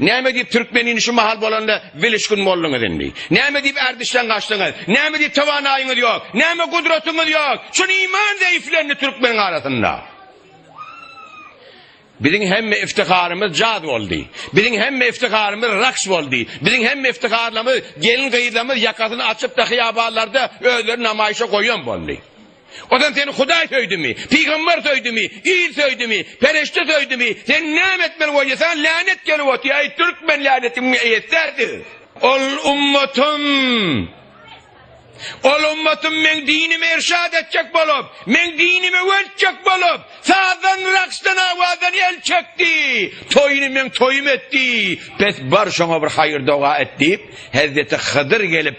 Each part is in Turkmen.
Näme diýip türkmenini şu mahal bolanda bilişgin bolduňyz indi? Näme diýip ärdişden gaçdyňyz? Näme diýip towanaýyňyz ýok? Näme gudratyňyz ýok? Şun iman zeýiflendi türkmeniň arasynda. Biziň hemme iftiharymyz jaz boldy. Biziň hemme iftiharymyz raks boldy. Biziň hemme iftiharlarymyz gelin-gyzlarymyz ýakasyny açyp-da hyýabanlarda özlerini namaýyşa goýan boldy. Ondan seni Hudaý söýdimi? Pygamber söýdimi? Il söýdimi? Perişde söýdimi? Sen näme etmeli bolýasaň länet gelip otyr. Aý türkmen länetiň eýesi därdir. Ol ummatym. Ol ummatym meň dinimi irşat etjek bolup, meň dinimi weltjek bolup, sazdan, raksdan, awazdan el çekdi. Toýuny meň toýum etdi. Bes bar şoňa bir haýyr doga et diýip, Hezreti Hydyr gelip,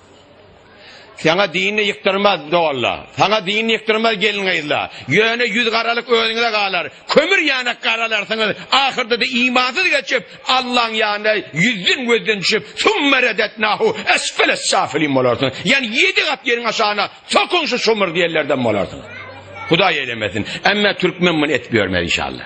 Saňa dinini ýykdyrmaz doganla. Saňa dinini ýykdyrmaz gelin-gyzla. Ýöne ýüz garalyk özüňize galar. Kömür ýanak garalarsyňyz. Ahyrda-da imansyz geçip, Allaň ýanyna ýüzden gözden düşüp, Summa redetnahu esfele safilin bolarsyňyz. Ýani ýedi gat ýeriň aşagyna sokuň şu şumur diýenlerden bolarsyňyz. Hudaý eylemesin. Emma türkmen muny etip ýörmez inşallah.